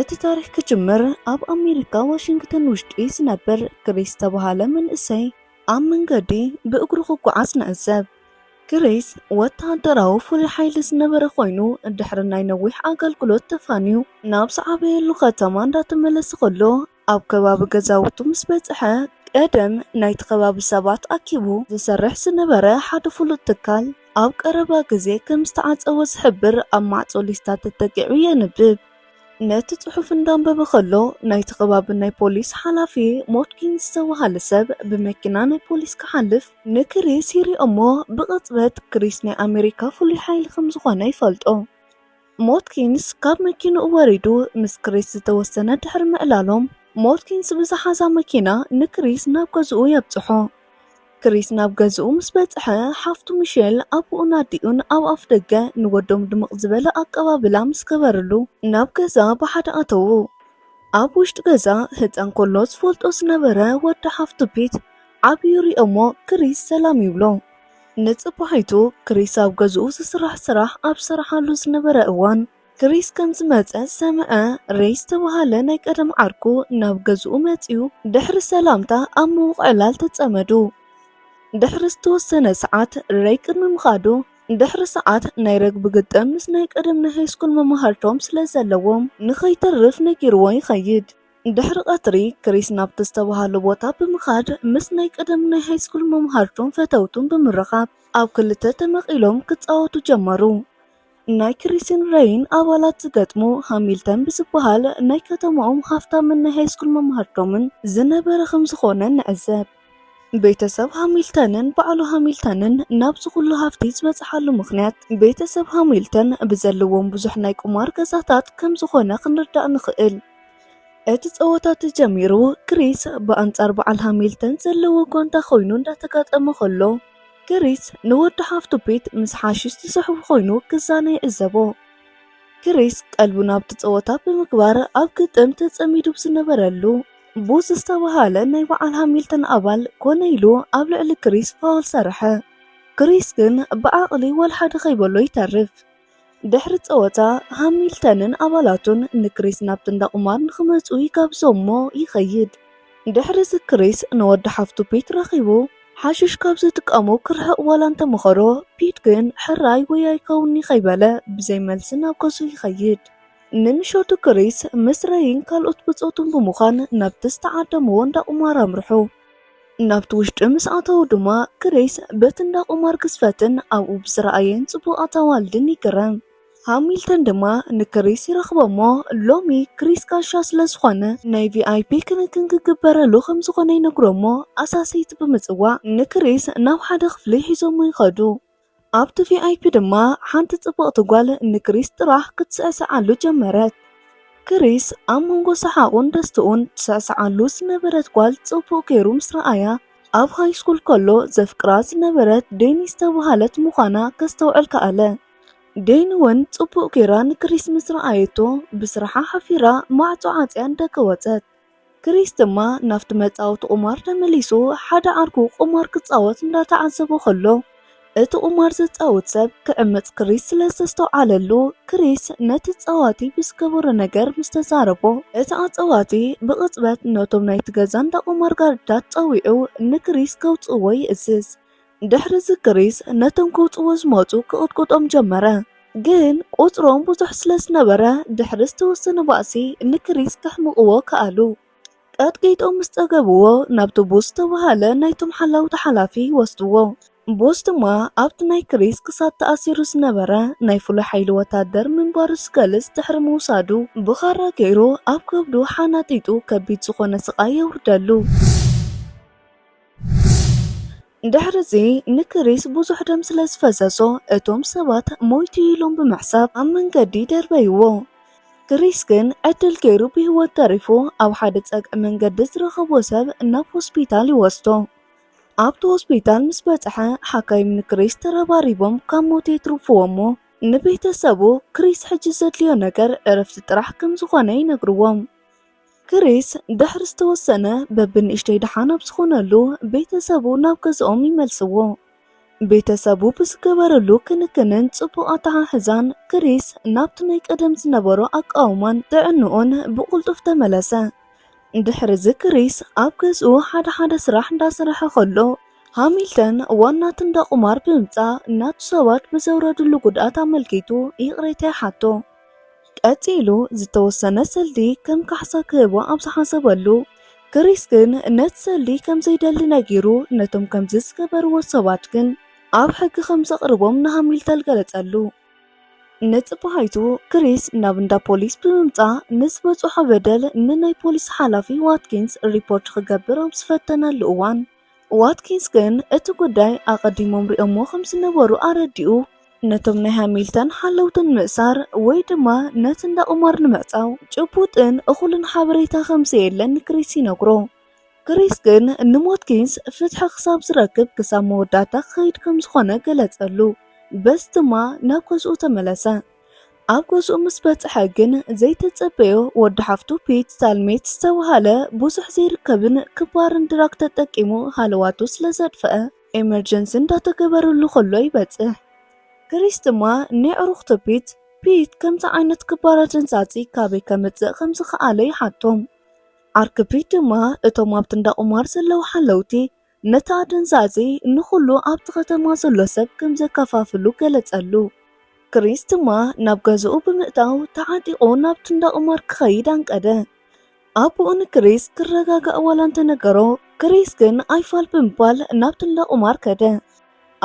እቲ ታሪኽ ክጅምር ኣብ ኣሜሪካ ዋሽንግተን ውሽጢ ዝነብር ግሬስ ዝተብሃለ መንእሰይ ኣብ መንገዲ ብእግሩ ክጓዓዝ ንዕዘብ። ግሬስ ወተሃደራዊ ፍሉይ ሓይሊ ዝነበረ ኮይኑ ድሕሪ ናይ ነዊሕ ኣገልግሎት ተፋንዩ ናብ ዝዓበየሉ ከተማ እንዳተመለሰ ከሎ ኣብ ከባቢ ገዛውቱ ምስ በጽሐ፣ ቀደም ናይቲ ከባቢ ሰባት ኣኪቡ ዝሰርሕ ዝነበረ ሓደ ፍሉጥ ትካል፣ ኣብ ቀረባ ግዜ ከም ዝተዓጸወ ዝሕብር ኣብ ማዕጾ ሊስታ ተጠቂዑ የንብብ። ነቲ ጽሑፍ እንዳንበበ ከሎ፣ ናይቲ ከባቢ ናይ ፖሊስ ሓላፊ ሞትኪን ዝተባህለ ሰብ ብመኪና ናይ ፖሊስ ክሓልፍ ንክሪስ ይሪኦ'ሞ ብቕጽበት ክሪስ ናይ ኣመሪካ ፍሉይ ሓይሊ ከም ዝኾነ ይፈልጦ። ሞትኪንስ ካብ መኪንኡ ወሪዱ ምስ ክሪስ ዝተወሰነ ድሕሪ ምዕላሎም፣ ሞትኪንስ ብዝሓዛ መኪና ንክሪስ ናብ ገዝኡ የብጽሖ። ክሪስ ናብ ገዝኡ ምስ በጽሐ፣ ሓፍቱ ሚሼል፣ ኣቡኡን ኣዲኡን ኣብ ኣፍደገ ንወዶም ድምቕ ዝበለ ኣቀባብላ ምስ ገበርሉ፣ ናብ ገዛ ብሓደ ኣተዉ። ኣብ ውሽጢ ገዛ፣ ህጻን ከሎ ዝፈልጦ ዝነበረ ወዲ ሓፍቱ ፒት ዓብዩ ይሪኦ'ሞ ክሪስ ሰላም ይብሎ። ንጽባሒቱ ክሪስ ኣብ ገዝኡ ዝስራሕ ስራሕ ኣብ ዝሰርሓሉ ዝነበረ እዋን፣ ክሪስ ከም ዝመጸ ሰምዐ። ሬይ ዝተባህለ ናይ ቀደም ዓርኩ ናብ ገዝኡ መጺኡ ድሕሪ ሰላምታ ኣብ ምውቕዕላል ተጸመዱ። ድሕሪ ዝተወሰነ ሰዓት፣ ሬይ ቅድሚ ምኻዱ ድሕሪ ሰዓት ናይ ረግቢ ግጥም ምስ ናይ ቀደም ናይ ሃይስኩል መማህርቶም ስለ ዘለዎም ንኸይተርፍ ነጊርዎ ይኸይድ። ድሕሪ ቀትሪ፣ ክሪስ ናብቲ ዝተባህሎ ቦታ ብምኻድ ምስ ናይ ቀደም ናይ ሃይስኩል መማህርቱን ፈተውቱን ብምርኻብ ኣብ ክልተ ተመቒሎም ክጻወቱ ጀመሩ። ናይ ክሪስን ረይን ኣባላት ዝገጥሙ ሃሚልተን ብዝበሃል ናይ ከተማኦም ሃፍታምን ናይ ሃይስኩል መማህርቶምን ዝነበረ ከም ዝኾነ ንዕዘብ። ቤተሰብ ሃሚልተንን በዓሉ ሃሚልተንን ናብዚ ኩሉ ሃፍቲ ዝበጽሓሉ ምኽንያት፣ ቤተሰብ ሃሚልተን ብዘለዎም ብዙሕ ናይ ቁማር ገዛታት ከም ዝኾነ ክንርዳእ ንኽእል። እቲ ጸወታ ተጀሚሩ፣ ክሪስ ብኣንጻር በዓል ሃሚልተን ዘለዎ ጓንታ ኮይኑ እንዳተጋጠመ ከሎ፣ ክሪስ ንወዲ ሓፍቱ ፒት ምስ ሓሽሽ ዝስሕቡ ኮይኑ ክዛነ ይዕዘቦ። ክሪስ ቀልቡ ናብቲ ጸወታ ብምግባር ኣብ ግጥም ተጸሚዱ ብዝነበረሉ፣ ቡስ ዝተባህለ ናይ በዓል ሃሚልተን ኣባል ኮነ ኢሉ ኣብ ልዕሊ ክሪስ ፋውል ሰርሐ። ክሪስ ግን ብዓቕሊ ወልሓደ ከይበሎ ይተርፍ። ድሕሪ ጸወታ ሃሚልተንን ኣባላቱን ንክሪስ ናብቲ እንዳ ቁማር ንክመጹ ይጋብዞምሞ ይኸይድ። ድሕሪዚ ክሪስ ንወዲ ሓፍቱ ፒት ረኺቡ ሓሽሽ ካብ ዝጥቀሙ ክርሕቕ ዋላ እንተመኸሮ፣ ፒት ግን ሕራይ ወይ ኣይከውንን'ዩ ከይበለ ብዘይ መልሲ ናብ ገዝኡ ይኸይድ። ንምሸቱ ክሪስ ምስ ረይን ካልኦት ብጾቱን ብምዃን ናብቲ ዝተዓደምዎ እንዳ ቁማር ኣምርሑ። ናብቲ ውሽጢ ምስ ኣተዉ ድማ ክሪስ በቲ እንዳ ቁማር ግዝፈትን ኣብኡ ብዝረኣየን ጽቡቕ ኣታዋልድን ይግረም። ሃሚልተን ድማ ንክሪስ ይረኽቦ'ሞ ሎሚ ክሪስ ጋሻ ስለ ዝኾነ ናይ ቪኣይፒ ክንክን ክግበረሉ ከም ዝኾነ ይነግሮ'ሞ ኣሳሰይቲ ብምጽዋዕ ንክሪስ ናብ ሓደ ክፍሊ ሒዞሞ ይኸዱ። ኣብቲ ቪኣይፒ ድማ ሓንቲ ጽብቕቲ ጓል ንክሪስ ጥራሕ ክትስዕስዓሉ ጀመረት። ክሪስ ኣብ መንጎ ሰሓቑን ደስትኡን ትስዕስዓሉ ዝነበረት ጓል ጽቡቕ ገይሩ ምስ ረኣያ፣ ኣብ ሃይስኩል ከሎ ዘፍቅራ ዝነበረት ዴኒ ዝተበሃለት ምዃና ከስተውዕል ከኣለ። ዴኒ'ውን ጽቡቕ ገይራ ንክሪስ ምስ ረኣየቶ ብስራሓ ሓፊራ ማዕጾ ዓጽያ ንደገ ወጸት። ክሪስ ድማ ናብቲ መጻወቲ ቁማር ተመሊሱ ሓደ ዓርኩ ቁማር ክጻወት እንዳተዓዘቦ ከሎ እቲ ቁማር ዘጻውት ሰብ ክዕምጽ ክሪስ ስለ ዝተስተውዓለሉ ክሪስ ነቲ ጸዋቲ ብዝገበሮ ነገር ምስ ተዛረቦ እቲ ኣጸዋቲ ብቅጽበት ነቶም ናይቲ ገዛ እንዳቁማር ጋርድታት ጸዊዑ ንክሪስ ከውጽእዎ ይእዝዝ ድሕርዚ ግሪስ ነቶም ክውጽዎ ዝመጹ ክቕጥቁጦም ጀመረ። ግን ቍጽሮም ብዙሕ ስለ ዝነበረ፣ ድሕሪ ዝተወሰነ ባእሲ ንግሪስ ከሕምቕዎ ከኣሉ። ቀጥቂጦም ምስ ጸገብዎ፣ ናብቲ ቡስ ዝተባህለ ናይቶም ሓላውቲ ሓላፊ ወስድዎ። ቡስ ድማ ኣብቲ ናይ ግሪስ ክሳድ ተኣሲሩ ዝነበረ ናይ ፍሉይ ሓይሊ ወተሃደር ምንባሩ ዝገልጽ ድሕሪ ምውሳዱ፣ ብኻራ ገይሩ ኣብ ከብዱ ሓናጢጡ ከቢድ ዝዀነ ስቓይ የውርደሉ። ድሕርዚ ንክሪስ ብዙሕ ደም ስለ ዝፈሰሶ እቶም ሰባት ሞይቱ እዩ ኢሎም ብምሕሳብ ኣብ መንገዲ ደርበይዎ። ክሪስ ግን ዕድል ገይሩ ብህይወት ተሪፉ ኣብ ሓደ ጸግዒ መንገዲ ዝረኸቦ ሰብ ናብ ሆስፒታል ይወስዶ። ኣብቲ ሆስፒታል ምስ በጽሐ ሓካይም ንክሪስ ተረባሪቦም ካብ ሞት የትርፍዎ እሞ ንቤተሰቡ ክሪስ ሕጂ ዘድልዮ ነገር ዕረፍቲ ጥራሕ ከም ዝኾነ ይነግርዎም። ክሪስ ድሕሪ ዝተወሰነ በብንእሽተይ ደሓን ኣብ ዝኾነሉ ቤተሰቡ ናብ ገዝኦም ይመልስዎ። ቤተሰቡ ብዝገበርሉ ክንክንን ጽቡቕ ኣተሓሕዛን ክሪስ ናብቲ ናይ ቀደም ዝነበሮ ኣቃውማን ጥዕንኡን ብቕልጡፍ ተመለሰ። ድሕርዚ ክሪስ ኣብ ገዝኡ ሓደ ሓደ ስራሕ እንዳሰርሐ ከሎ ሃሚልተን ዋናቲ እንዳ ቁማር ብምምጻእ ናቱ ሰባት ብዘውረድሉ ጉድኣት ኣመልኪቱ ይቕሬታ ይሓቶ። ቀጺሉ ዝተወሰነ ሰልዲ ከም ካሕሳ ክህቦ ኣብ ዝሓሰበሉ፣ ክሪስ ግን ነቲ ሰልዲ ከም ዘይደሊ ነጊሩ ነቶም ከምዚ ዝገበርዎ ሰባት ግን ኣብ ሕጊ ከም ዘቕርቦም ንሃሚልተል ገለጸሉ። ንጽባሒቱ ክሪስ ናብ እንዳ ፖሊስ ብምምጻእ ንዝበጽሖ በደል ንናይ ፖሊስ ሓላፊ ዋትኪንስ ሪፖርት ክገብር ኣብ ዝፈተነሉ እዋን፣ ዋትኪንስ ግን እቲ ጉዳይ ኣቐዲሞም ሪኦሞ ከም ዝነበሩ ኣረዲኡ። ነቶም ናይ ሃሚልተን ሓለውቲ ንምእሳር ወይ ድማ ነቲ እንዳ ቁማር ንምዕጻው ጭቡጥን እኹልን ሓበሬታ ከም ዘየለ ንክሪስ ይነግሮ። ክሪስ ግን ንዋትኪንስ ፍትሒ ክሳብ ዝረክብ ክሳብ መወዳእታ ክኸይድ ከም ዝኾነ ገለጸሉ፣ በዚ ድማ ናብ ገዝኡ ተመለሰ። ኣብ ገዝኡ ምስ በጽሐ ግን ዘይተጸበዮ ወዲ ሓፍቱ ፒት ሳልሜት ዝተብሃለ ብዙሕ ዘይርከብን ክባርን ድራግ ተጠቂሙ ሃለዋቱ ስለ ዘጥፍአ ኤመርጀንሲ እንዳተገበረሉ ከሎ ይበጽሕ። ክሪስ ድማ ንየዕሩኽቱ ፒት ፒት ከምዚ ዓይነት ክባር ኣደንዛጺ ካበይ ከምጽእ ከም ዝኸኣለ ይሓቶም። ዓርኪ ፒት ድማ እቶም ኣብቲ እንዳቁማር ዘለዉ ሓለውቲ ነቲ ኣደንዛዚ ንዅሉ ኣብቲ ኸተማ ዘሎ ሰብ ከም ዘከፋፍሉ ገለጸሉ። ክሪስ ድማ ናብ ገዛኡ ብምእታው ተዓጢቑ ናብቲ እንዳ ቁማር ክኸይድ ኣንቀደ። ኣቦኡ ንክሪስ ክረጋጋእ ዋላ እንተ ነገሮ፣ ክሪስ ግን ኣይፋል ብምባል ናብቲ እንዳ ቁማር ከደ።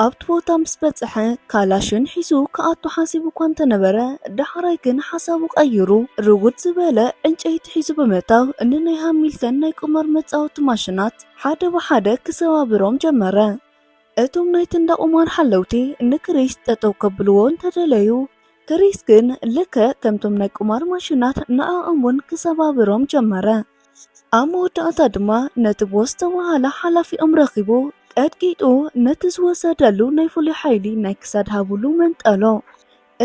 ኣብቲ ቦታ ምስ በጽሐ ካላሽን ሒዙ ክኣቱ ሓሲቡ እኳ እንተ ነበረ፣ ዳሕራይ ግን ሓሳቡ ቀይሩ፣ ርጉድ ዝበለ ዕንጨይቲ ሒዙ ብምእታው ን ናይ ሃሚልተን ናይ ቁማር መጻወቲ ማሽናት ሓደ ብሓደ ክሰባብሮም ጀመረ። እቶም ናይቲ እንዳ ቁማር ሓለውቲ ን ክሪስ ጠጠው ከብልዎ እንተ ደለዩ፣ ክሪስ ግን ልክዕ ከምቶም ናይ ቁማር ማሽናት ንዕኦም ውን ክሰባብሮም ጀመረ። ኣብ መወዳእታ ድማ ነቲ ቦስ ዝተባህለ ሓላፊኦም ረኺቡ ቀጥቂጡ ነቲ ዝወሰደሉ ናይ ፍሉይ ሓይሊ ናይ ክሳድ ሃብሉ መንጠሎ።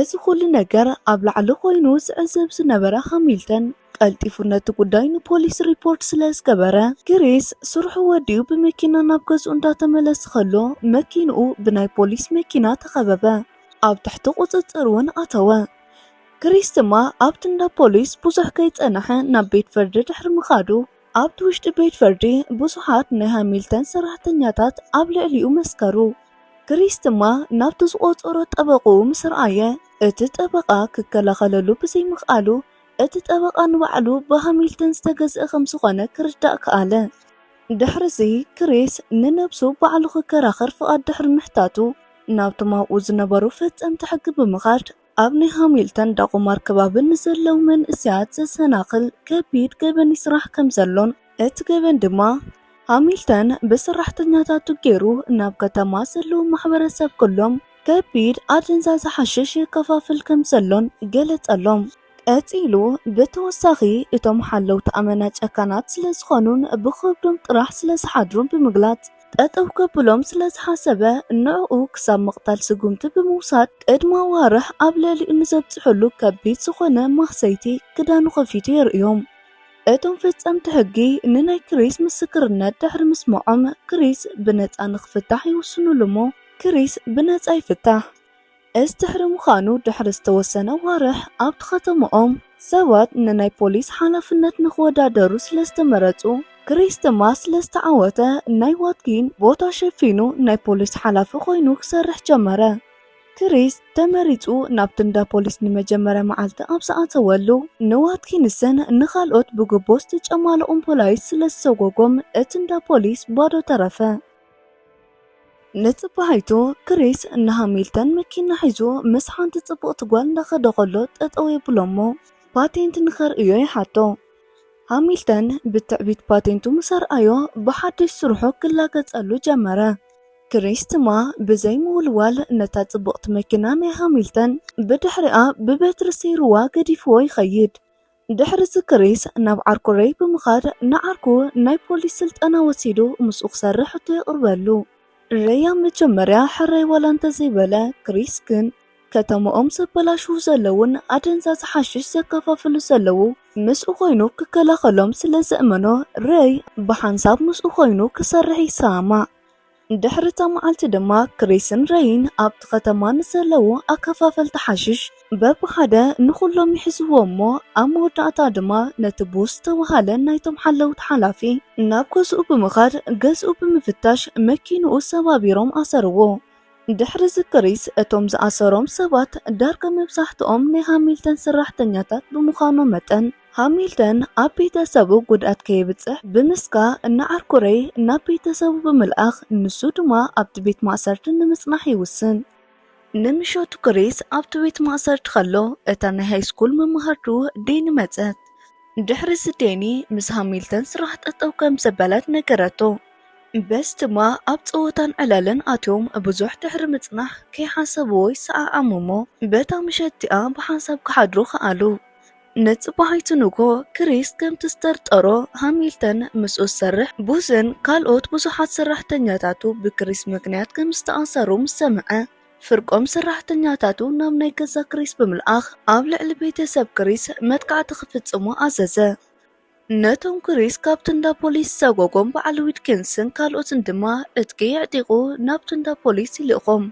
እዚ ኩሉ ነገር ኣብ ላዕሊ ኮይኑ ዝዕዘብ ዝነበረ ሃሚልተን ቀልጢፉ ነቲ ጉዳይ ንፖሊስ ሪፖርት ስለ ዝገበረ ክሪስ ስርሑ ወዲኡ ብመኪና ናብ ገዝኡ እንዳተመለሰ ከሎ መኪንኡ ብናይ ፖሊስ መኪና ተኸበበ። ኣብ ትሕቲ ቁጽጽር እውን ኣተወ። ክሪስ ድማ ኣብቲ እንዳ ፖሊስ ብዙሕ ከይጸንሐ ናብ ቤት ፍርዲ ድሕሪ ምኻዱ፣ ኣብቲ ውሽጢ ቤት ፍርዲ ብዙሓት ናይ ሃሚልተን ሰራሕተኛታት ኣብ ልዕሊኡ መስከሩ። ክሪስ ድማ ናብቲ ዝቖጸሮ ጠበቕኡ ምስ ረኣየ፣ እቲ ጠበቓ ክከላኸለሉ ብዘይምኽኣሉ፣ እቲ ጠበቓ ንባዕሉ ብሃሚልተን ዝተገዝአ ከም ዝኾነ ክርዳእ ከኣለ። ድሕርዚ ክሪስ ንነብሱ ባዕሉ ክከራኸር ፍቓድ ድሕሪ ምሕታቱ፣ ናብቶም ኣብኡ ዝነበሩ ፈጸምቲ ሕጊ ብምኻድ፣ ኣብ ናይ ሃሚልተን ዳቁማር ከባቢ ንዘለው መንእሰያት ዘሰናኽል ከቢድ ገበን ይስራሕ ከምዘሎን እቲ ገበን ድማ ሃሚልተን ብሰራሕተኛታቱ ገይሩ ናብ ከተማ ዘለው ማሕበረሰብ ኩሎም ከቢድ ኣደንዛዘ ሓሽሽ የከፋፍል ከምዘሎን ገለጸሎም። ቀጺሉ ብተወሳኺ እቶም ሓለውቲ ኣመና ጨካናት ስለዝኾኑን ብኸብዶም ጥራሕ ስለዝሓድሩን ብምግላጽ፣ ጠጠው ከብሎም ስለ ዝሓሰበ ንዕኡ ክሳብ ምቕታል ስጉምቲ ብምውሳድ ቅድሚ ኣዋርሕ ኣብ ልዕሊኡ ንዘብፅሕሉ ከቢድ ዝኾነ ማህሰይቲ ክዳኑ ከፊቱ የርእዮም። እቶም ፈፀምቲ ሕጊ ንናይ ክሪስ ምስክርነት ድሕሪ ምስምዖም ክሪስ ብነፃ ንክፍታሕ ይውስንሉ እሞ ክሪስ ብነፃ ይፍታሕ። እዚ ድሕሪ ምዃኑ ድሕሪ ዝተወሰነ ኣዋርሕ ኣብቲ ከተማኦም ሰባት ንናይ ፖሊስ ሓላፍነት ንኽወዳደሩ ስለ ዝተመረጹ ክሪስ ቶማስ ስለ ዝተዓወተ ናይ ዋትኪን ቦታ ሸፊኑ ናይ ፖሊስ ሓላፊ ኮይኑ ክሰርሕ ጀመረ። ክሪስ ተመሪጹ ናብቲ እንዳ ፖሊስ ንመጀመርያ መዓልቲ ኣብ ዝኣተወሉ ንዋትኪንስን ንኻልኦት ብጉቦ ዝተጨማለቑን ፖላይስ ስለ ዝሰጎጎም እቲ እንዳ ፖሊስ ባዶ ተረፈ። ንጽባሒቱ ክሪስ ንሃሚልተን መኪና ሒዙ ምስ ሓንቲ ጽብቕቲ ጓል እንዳኸደ ከሎ ጠጠው የብሎ'ሞ ፓቴንት ንኸርእዮ ይሓቶ። ሃሚልተን ብትዕቢት ፓቴንቱ ምስ ኣርኣዮ ብሓድሽ ስርሑ ክላገጸሉ ጀመረ። ክሪስ ድማ ብዘይ ምውልዋል ነታ ጽብቕቲ መኪና ናይ ሃሚልተን ብድሕሪኣ ብበትሪ ሰይሩዋ ገዲፍዎ ይኸይድ። ድሕርዚ ክሪስ ናብ ዓርኩ ሬይ ብምኻድ ንዓርኩ ናይ ፖሊስ ስልጠና ወሲዱ ምስኡ ክሰርሕ ሕቶ የቕርበሉ። ሬይ ኣብ መጀመርያ ሕራይ ዋላ እንተዘይበለ፣ ክሪስ ግን ከተምኦም ዘበላሽዉ ዘለዉን ኣደንዛዚ ሓሽሽ ዘከፋፍሉ ዘለዉ ምስኡ ኮይኑ ክከላኸሎም ስለዘእመኖ ሬይ ብሓንሳብ ምስኡ ኮይኑ ክሰርሕ ይሰማማዕ። ድሕሪ'ታ መዓልቲ ድማ ክሪስን ረይን ኣብቲ ከተማ ንዘለዉ ኣከፋፈልቲ ሓሽሽ በብሓደ ንኹሎም ይሕዝዎም እሞ ኣብ መወዳእታ ድማ ነቲ ቡስ ዝተባህለ ናይቶም ሓለውቲ ሓላፊ ናብ ገዝኡ ብምኻድ ገዝኡ ብምፍታሽ መኪንኡ ሰባቢሮም ኣሰርዎ። ድሕሪ'ዚ ክሪስ እቶም ዝኣሰሮም ሰባት ዳርጋ መብዛሕትኦም ናይ ሃሚልተን ሰራሕተኛታት ብምዃኖም መጠን፣ ሃሚልተን ኣብ ቤተሰቡ ጉድኣት ከየብጽሕ ብምስጋ እንዓርኩ ሬይ ናብ ቤተሰቡ ብምልኣኽ ንሱ ድማ ኣብቲ ቤት ማእሰርቲ ንምጽናሕ ይውስን። ንምሸቱ ክሪስ ኣብቲ ቤት ማእሰርቲ ከሎ እታ ናይ ሃይስኩል መማህርቱ ዴኒ መጸት። ድሕሪዚ ዴኒ ምስ ሃሚልተን ስራሕ ጠጠው ከም ዘበለት ነገረቶ። በዚ ድማ ኣብ ጸወታን ዕለልን ኣትዮም ብዙሕ ድሕሪ ምጽናሕ ከይሓሰብዎ ይሰዓዓሙ እሞ በታ ምሸት እቲኣ ብሓንሳብ ክሓድሩ ከኣሉ። ንጽባሒቱ ንግሆ፣ ክሪስ ከምቲ ዝጠርጠሮ ሃሚልተን ምስኡ ዝሰርሕ ቡዝን ካልኦት ብዙሓት ሰራሕተኛታቱ ብክሪስ ምኽንያት ከም ዝተኣሰሩ ምስ ሰምዐ፣ ፍርቆም ሰራሕተኛታቱ ናብ ናይ ገዛ ክሪስ ብምልኣኽ ኣብ ልዕሊ ቤተሰብ ክሪስ መጥቃዕቲ ክፍጽሙ ኣዘዘ። ነቶም ክሪስ ካብቲ እንዳ ፖሊስ ዝሰጎጎም በዓል ዊትኪንስን ካልኦትን ድማ ዕጥቂ የዕጢቑ ናብቲ እንዳ ፖሊስ ይልእኾም።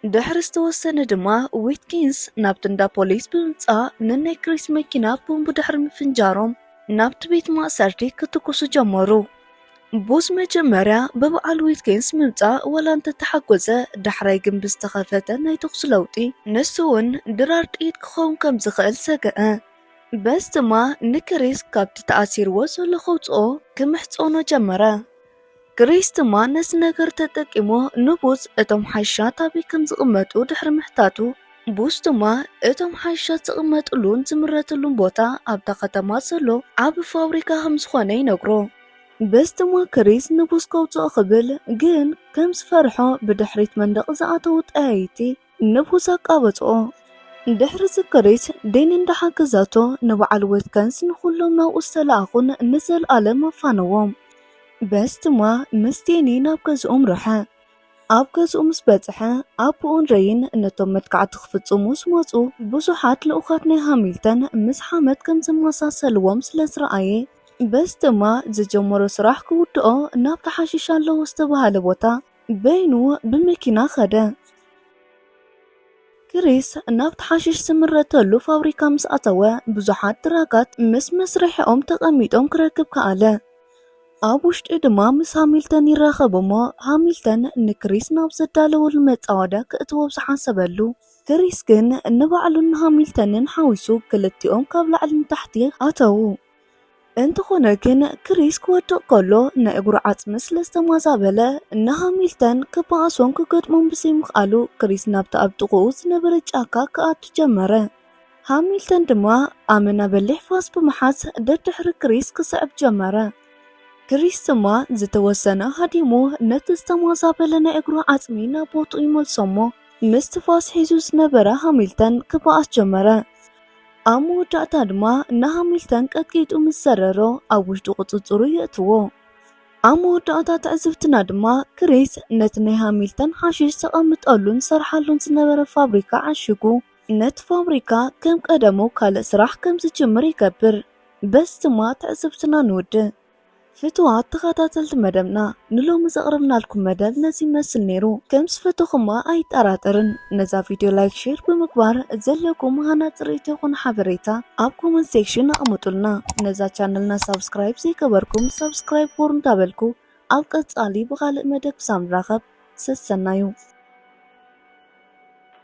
ድሕሪ ዝተወሰነ ድማ ዊትኪንስ ናብቲ እንዳ ፖሊስ ብምምጻእ ንናይ ክሪስ መኪና ቦምብ ድሕሪ ምፍንጃሮም ናብቲ ቤት ማእሰርቲ ክትኩሱ ጀመሩ። ቡዝ መጀመርያ ብበዓል ዊትኪንስ ምምጻእ ዋላ እንተተሓጎሰ ዳሕራይ ግን ብዝተኸፈተ ናይ ተኹሲ ለውጢ ንሱ'ውን ድራር ጥይት ክኸውን ከም ዝኽእል ሰገኣ። በስ ድማ ንክሪስ ካብቲ ተኣሲርዎ ዘሎ ከውጽኦ ክምሕጸኖ ጀመረ። ክሪስ ድማ ነዚ ነገር ተጠቂሙ ንቡዝ እቶም ሓይሻት ኣበይ ከም ዝቕመጡ ድሕሪ ምሕታቱ፣ ቡዝ ድማ እቶም ሓይሻት ዝቕመጥሉን ዝምረትሉን ቦታ ኣብታ ከተማ ዘሎ ዓቢ ፋብሪካ ከም ዝኾነ ይነግሮ። በስ ድማ ክሪስ ንቡዝ ከውጽኦ ክብል ግን ከም ዝፈርሖ ብድሕሪት መንደቕ ዝኣተዉ ጠያይቲ ንብኡ ዘቃበጾ። ድሕሪ እዚ ክሪስ ዲን እንዳሓገዛቶ ንበዓል ዌትከንስ ንኹሎም ናብኡ ዝተላኣኹን ንዘልኣለም ኣፋነዎም። በዚ ድማ ምስ ዴኒ ናብ ገዝኡ ኣምረሐ። ኣብ ገዝኡ ምስ በጽሐ ኣቡኡን ሬይን ነቶም መጥቃዕቲ ክፍጽሙ ዝመጹ ብዙሓት ልኡኻት ናይ ሃሚልተን ምስ ሓመድ ከም ዘመሳሰልዎም ስለ ዝረኣየ በዚ ድማ ዝጀመሮ ስራሕ ክውድኦ ናብቲ ሓሽሽ ኣለዎ ዝተባህለ ቦታ በይኑ ብመኪና ከደ። ክሪስ ናብቲ ሓሽሽ ዝምረተሉ ፋብሪካ ምስ ኣተወ፣ ብዙሓት ትራካት ምስ መስርሒኦም ተቐሚጦም ክረክብ ከኣለ። ኣብ ውሽጢ ድማ ምስ ሃሚልተን ይራኸብ እሞ ሃሚልተን ንክሪስ ናብ ዘዳለወሉ መጻወድያ ክእትዎ ኣብ ዝሓሰበሉ፣ ክሪስ ግን ንባዕሉን ንሃሚልተንን ሓዊሱ ክልቲኦም ካብ ላዕሊ ንታሕቲ ኣተዉ። እንተዀነ ግን፣ ክሪስ ክወድቕ ከሎ ናይ እግሩ ዓጽሚ ስለ ዝተማዛበለ ንሃሚልተን ክበኣሶን ክገጥሞን ብዘይምኽኣሉ፣ ክሪስ ናብታ ኣብ ጥቓኡ ዝነበረት ጫካ ክኣቱ ጀመረ። ሃሚልተን ድማ ኣመና በሊሕ ፋስ ብምሓዝ ደድሕሪ ክሪስ ክስዕብ ጀመረ። ክሪስ ድማ ዝተወሰነ ሃዲሙ ነቲ ዝተማዛበለ ናይ እግሩ ዓጽሚ ናብ ቦትኡ ይመልሶ'ሞ ምስቲ ፋስ ሒዙ ዝነበረ ሃሚልተን ክበኣስ ጀመረ። ኣብ መወዳእታ ድማ ንሃሚልተን ቀጥቂጡ ምስ ዘረሮ ኣብ ውሽጡ ቁጽጽሩ የእትዎ። ኣብ መወዳእታ ትዕዝብትና ድማ ክሪስ ነቲ ናይ ሃሚልተን ሓሽሽ ዘቐምጠሉን ዝሰርሓሉን ዝነበረ ፋብሪካ ዓሺጉ ነቲ ፋብሪካ ከም ቀደሙ ካልእ ስራሕ ከም ዝጅምር ይገብር። በዚ ድማ ትዕዝብትና ንውድእ። ፍቱዋት ተኸታተልቲ መደብና ንሎሚ ዘቕረብናልኩም መደብ ነዚ ይመስል ነይሩ ከም ዝፈተኹማ ኣይጠራጠርን ነዛ ቪድዮ ላይክ ሼር ብምግባር ዘለኩም ሃናጺ ርእይቶ ይኹን ሓበሬታ ኣብ ኮመንት ሴክሽን ኣቕምጡልና ነዛ ቻነልና ሳብስክራይብ ዘይገበርኩም ሳብስክራይብ ቦር እንዳበልኩ ኣብ ቀጻሊ ብኻልእ መደብ ክሳብ ንራኸብ ሰሰናዩ